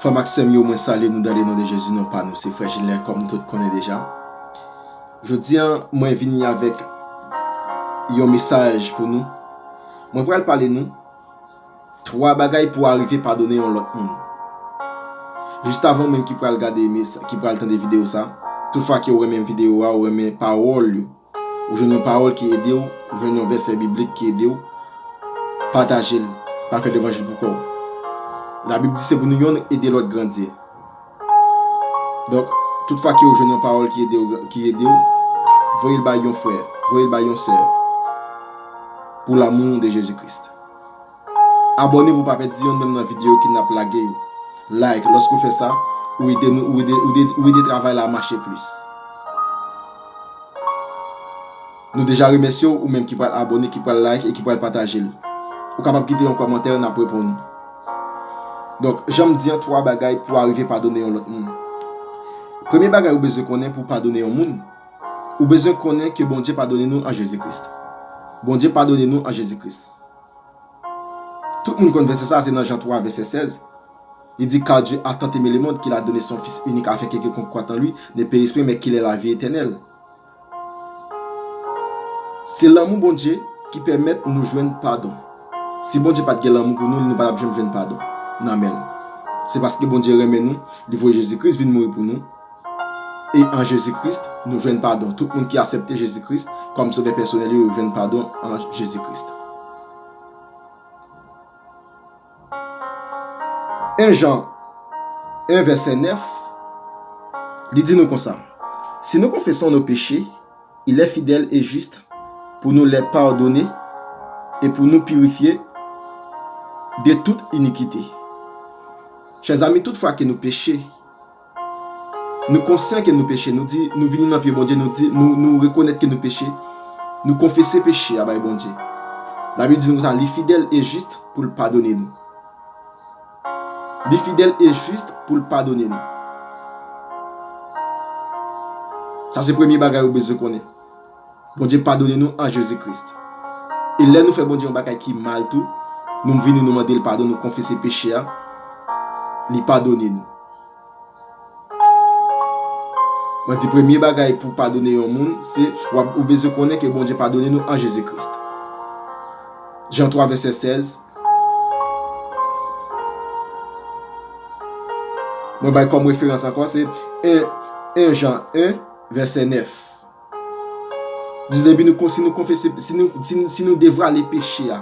Frèm ak sèm yo mwen salye nou dan le non de Jezi non pa nou se frè Gilè kòm nou tout konnen deja Jodi an mwen vini avèk yon mesaj pou nou mwen pral pale nou 3 bagay pou arive padone yon lòt moun. Jistavan ou menm ki pral gade ki pral tande video sa, tout fwa kew renmen video a ou renmen pawòl yo, ou jwenn yon pawòl ki edew, ou jwenn yon vèsè biblik ki edew, patajel, pa fè levanjil pou kòw. La bib di se pou nou yonn ede lòt grandi. Donk, tout fwa kew jwenn yon pawòl ki edew, ki edew, voyel bay yon frè, voyel bay yon sè pou lamou de Jezi Kris. Abòne pou w pa pèdi yonn menm nan videyo ki nap lage yo. Like lòske w fè sa, ou ede nou ou ede travay la mache plis. Nou deja remèsye w ou menm ki pral abòne, ki pral like e ki pral pataje l. Ou kapab kite yon kòmantè nap reponn ou. Donk janm di an 3 bagay pou w arive padone yon lòt moun. Premye bagay ou bezwen konnen pou w padone yon moun. Ou bezwen konnen ke Bondye padone nou an Jezi Kris. Bondye padone nou an Jezi Kris. Tout moun konn vèsè sa a, se nan Jan 3 vèsè 16. Li di, Kar Dye a tant eme le mond kil a done son Fis inik afen ke kilkonk kwat an li ne peris pwen men kil è lavi etènèl. Se lanmou Bondye ki pèmèt nou jwenn padon. Si Bondye pat gen lanmou pou nou, li nou pa tap janm jwenn padon nan men l. Se paske Bondye renmen nou, li voye Jezi Kris vin mouri pou nou, E an Jezi Kris, nou jwenn padon. Tout moun ki asèpte Jezi Kris kòm Sovè pèsonèl yo, yo jwenn padon an Jezi Kris. 1 Jan 1 vèsè 9, li di nou konsa, Si nou konfeson nou peche, il è fidèl e jis pou nou lè padone e pou nou pirifye de tout inikite. Chèzami, tout fwa ke nou peche, Nou konsyan ke nou peche, nou di, nou vini nan pye Bondye, nou di, nou, nou rekonèt ke nou peche, nou konfese peche a bay Bondye. Labib di nou konsa, li fidèl e jis pou l padone nou. Li fidèl e jis pou l padone nou. Sa se premye bagay ou bezwen konnen. Bondye padone nou an Jezi Krist. E lè nou fè Bondye yon bagay ki mal tou, nou vini nou mande l padon, nou konfese peche a, li padone nou. Mwen di premye bagay pou padone yon moun, se ou bezwen konnen ke Bondye padone nou an Jezi Krist. Jan 3 vèsè 16 Mwen bay kòm referans ankò se 1 Jan 1 vèsè 9. Di depi nou konsi nou konfese, si nou devwale peche a,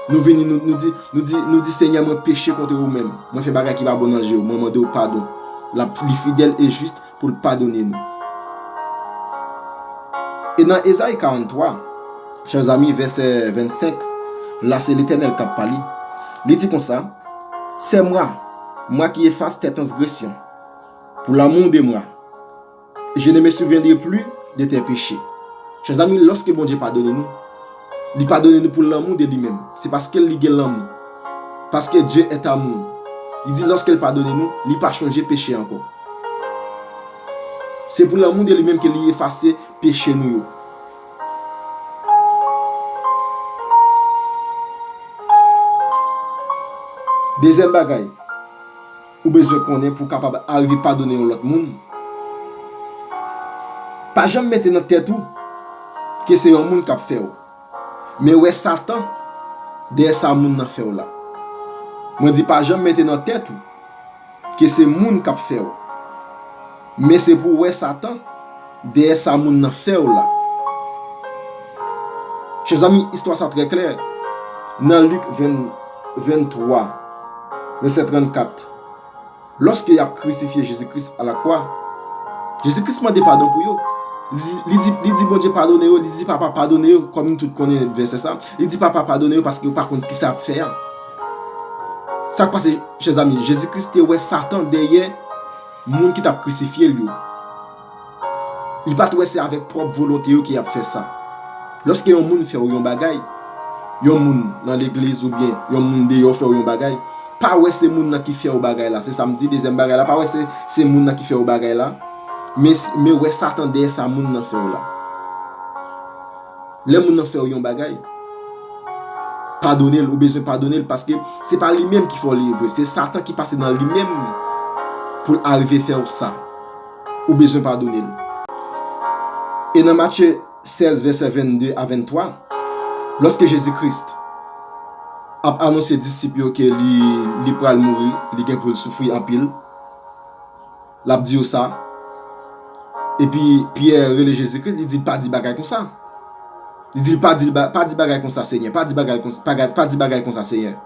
nou vini nou di, nou di, nou di Senyè mwen peche kontre ou menm, mwen fè bagay ki pa bon nan je ou, mwen mande ou padon. Lap li fidèl e jis pou l padone nou. E nan Ezayi 43, chè zanmi, vèsè 25, la se Letènèl kap pale. Li di konsa, Se mwa, mwa ki efas tè tansgresyon, pou lanmou de mwa. Je ne me souviendrai plus de tes péchés. Chèzanmi, lòske Bondye padone nou, li padone nou pou lanmou de li menm. Se paske li gen lanmou. Paske Dieu est amour. Li di lòske l padone nou, li pa chonje peche ankò. Se pou lanmou de li menm ke li efase peche nou yo. Dezyèm bagay. Ou bezwen konnen pou w kapab arive padone yon lòt moun? Pa janm mete nan tèt ou ke se yon moun kap fè w. Men wè satan dèyè sa moun nan fè w la. Mwen di pa janm mete nan tèt ou ke se moun kap fè w. Men se pou w wè satan dèyè sa moun nan fè w la. Chè zanmi, istwa sa trè klè nan Lik 23, vèsè 34. Lòske y ap krisifye Jezi Kris alakwa, Jezi Kris mande padon pou yo. Li di Bondye padone yo, li di Papa padone yo, kòm nou tout konnen vèsè sa. Li di Papa padone yo paske yo pa konn kisa y ap fè a. Sa k pase, chè zanmi, Jezi Kris te wè satan dèyè. Moun ki tap krisifye l yo. Li pa t wè se avèk pwòp volonte yo ki ap fè sa. Lòske yon moun fè w yon bagay, yon moun nan legliz oubyen yon moun deyò fè w yon bagay, pa wè se moun nan ki fè w bagay la, se sa m di, dezyèm bagay la, pa wè se se moun nan ki fè w bagay la, men wè Satan dèyè sa moun nan fè w la. Lè moun nan fè w yon bagay, padone l, ou bezwen padone l paske se pa li menm ki fè w li vre, se satan ki pase nan li menm pou l arive fè w sa. Ou bezwen padone l. E nan Matye 16 vèsè 22 a 23, lòske Jezi Kris ap anonse disip yo ke li pral mouri, li gen pou l soufri anpil, L ap di yo sa. Epi, Pyè rele Jezi Kris, li di l, Pa di bagay konsa. Li di l, Pa di bagay konsa, Senyè. Pa di bagay konsa, Senyè.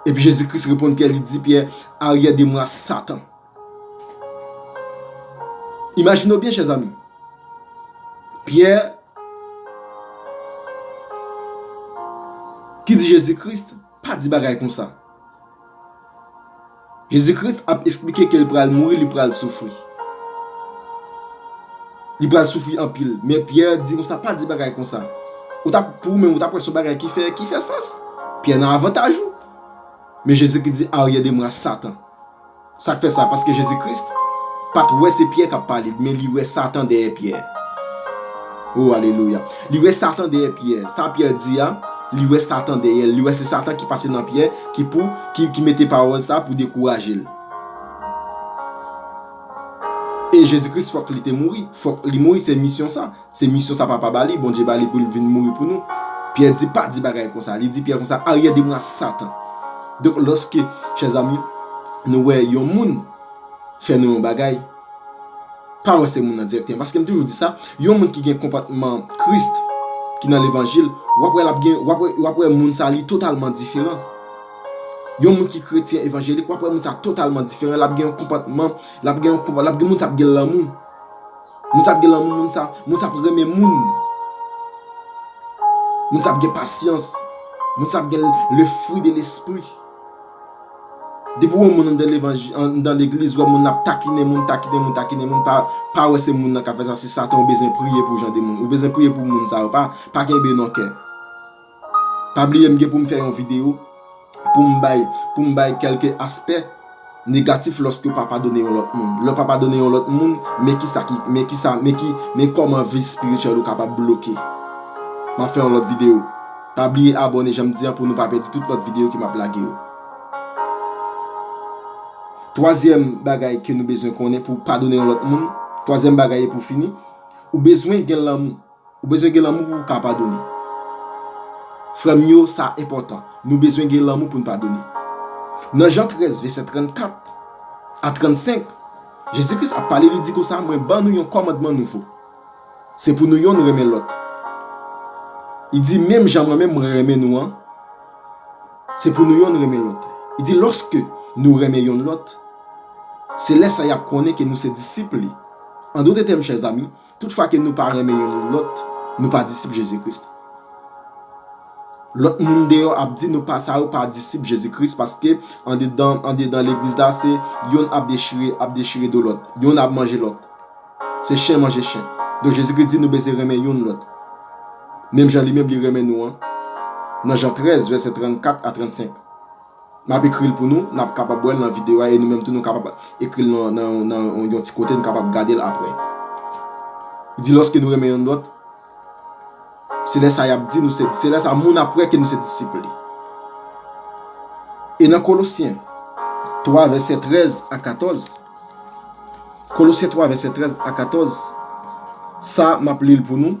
Epi Jezi Kris reponn Pyè, li di Pyè, Aryè de mwa, Satan. Imajine w byen, chè zanmi. Pyè, ki di Jezi Kris, Pa di bagay konsa. Jezi Kris ap esplike ke li pral mouri, li pral soufri. Li pral soufri anpil. Men Pyè di konsa, pa di bagay konsa. Ou ta, pou ou menm, ou ta kwè son bagay ki fè, ki fè sans. Pyè nan avantaj ou. Men Jezi Kris di, aryè de mwa Satan. Sa k fè sa? Paske Jezi Kris pa t wè se Pyè k ap pale, men li wè Satan dèyè Pyè. O, alelouya! Li wè Satan dèyè Pyè. Sa Pyè di a, li wè Satan dèyè l. Li wè se Satan ki pase nan Pyè, ki pou, ki, ki mete pawòl sa a pou dekouraje l. E Jezi Kris fòk li te mouri. Fòk li mouri, se misyon sa. Se misyon sa papa bali, Bondye bali pou li vin mouri pou nou. Pyè di pa di bagay konsa. Li di pyè konsa, aryè de mwa satan. Donk loske chè zanmi nou wè yon moun fè nou yon bagay, pa wè se moun nan direkteman. Paske m toujou di sa, yon moun ki gen konpòtman krist, ki nan levanjil, wap wè lap gen, wap wè moun sa li totalman diferan. Yon moun ki kretyen evanjelik, wap wè moun sa totalman diferan, lap gen yon konpòtman, lap gen moun sa ap gen lanmou. Moun sa ap gen lanmou, moun sa ap renmen moun. Moun sa ap gen pasyans. Moun sa ap gen le fwi de lespri. Depi ou wè yon moun anndan levanjil, anndan legliz, ou wè moun nan ap takinen moun, takinen moun, takinen moun, pa wè se moun nan k ap fè sa, se satan ou bezwen priye pou jan de moun. Ou bezwen priye pou moun sa yo, pa kenbe nan kè. Pa bliye m gen pou m fè yon video pou m bay pou m bay kelke aspè negatif loske w pa padone yon lot moun. Lè w pa padone yon lot moun men kisa ki men kisa men ki men koman vi spirituel ou kapab bloke. M ap fè yon lot video. Pa bliye abone jan m di an pou nou pa pèdi tout lot video ke m ap lage yo. Twazyèm bagay ke nou bezwen konnen pou w padone yon lot moun, twazyèm bagay e pou fini, ou bezwen gen lanmou. Ou bezwen gen lanmou pou ou ka padone. Frè m yo, sa enpòtan. Nou bezwen gen lanmou pou n padone. Nan Jan 13, vèsè 34 a 35, Jezi Kris ap pale, li di konsa, Mwen ban nou yon kòmandman nouvo, se pou nou yonn renmen lòt. Li di, Menm jan mwen menm mwen renmen nou an, se pou nou yonn renmen lòt. Li di, Lòske nou renmen yonn lòt, se lè sa y ap konnen ke nou se disip li. An dote tèm, chèzami, Tout fwa ke nou pa renmen yon moun lòt, nou pa disip Jezikris. Lòt moun deyò ap di nou pa sa yo pa disip Jezikris paske andedan, andedan legliz la se yonn ap dechire, ap dechire do lòt, yonn ap manje lòt. Se chen manje chen. Donk Jezikris di nou bezwen renmen yonn lòt. Menm jan li menm li renmen nou an, nan Jan 13 vèsè 34 a 35. N ap ekri l pou nou, n ap kapab wè l nan videyo a e nou menm tou nou kapab ekri l nan yon ti kote n kapab gade l apre. Li di lòske nou renmen youn lòt, se lè sa y ap di nou se, se lè sa moun ap wè ke nou se disip li. E nan Kolosyen 3 vèsè 13 a 14, Kolosyen 3 vèsè 13 a 14, sa m ap li l pou nou,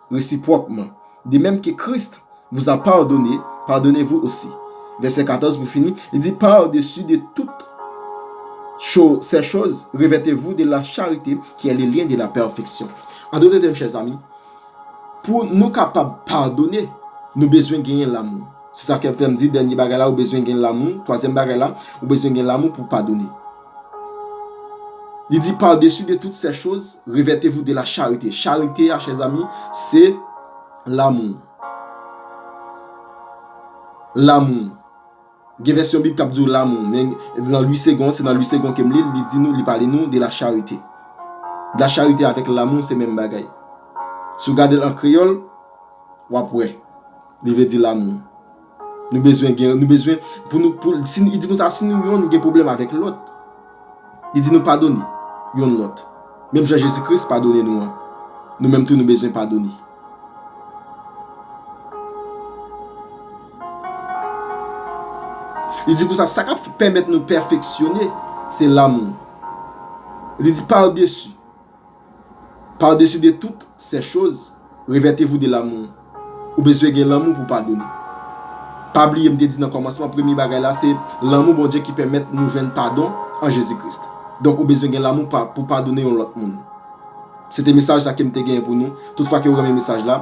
Resipwòkman, de mèm ke Kris vous a pardone, pardonnez-vous aussi. Vèsè 14 pou fini, li di, Par-dessus de toutes ces choses, revêtez-vous de la charite qui est le lien de la perfection. An dote tèm, chèzami, pou nou kapab padone, nou bezwen genyen lamou. Se sa ke fè m di dènye bagay la ou bezwen gen lamou, twazyèm bagay la, ou bezwen gen lamou pou w padone. Li di par dessus de toutes ces choses, revêtez-vous de la charite. Charite a, chers amis, se lanmou. Lanmou. Gen vèsyon bib kap di ou lanmou, men nan Louis Segond, se nan Louis Segond kem li, li di nou, li pale nou de la charite. La charite avèk lanmou se menm bagay. Si ou gade l an kreyòl, wap wè. Li vle di lanmou. Nou bezwen gen, nou bezwen pou nou pou, si nou, li di kon sa si nou yonn gen pwoblèm avèk lòt, li di nou padone yonn lòt. Menm jan Jezi Kris padone nou an, nou menm tou nou bezwen padone. Li di kon sa sa k ap pèmèt nou pèfeksyone se lanmou. Li di pa desi. Par-dessus de toutes ces choses, revêtez-vous de l'amour. Ou bezwen gen lanmou pou padone. Pa bliye m te di nan kòmansman premye bagay la se lanmou Bondye ki pèmèt nou jwenn padon an Jezi Kris. Donk ou bezwen gen lanmou pou padone yon lòt moun. Se te mesaj sa ke m te genyen pou nou. Tout fwa ke ou renmen mesaj la.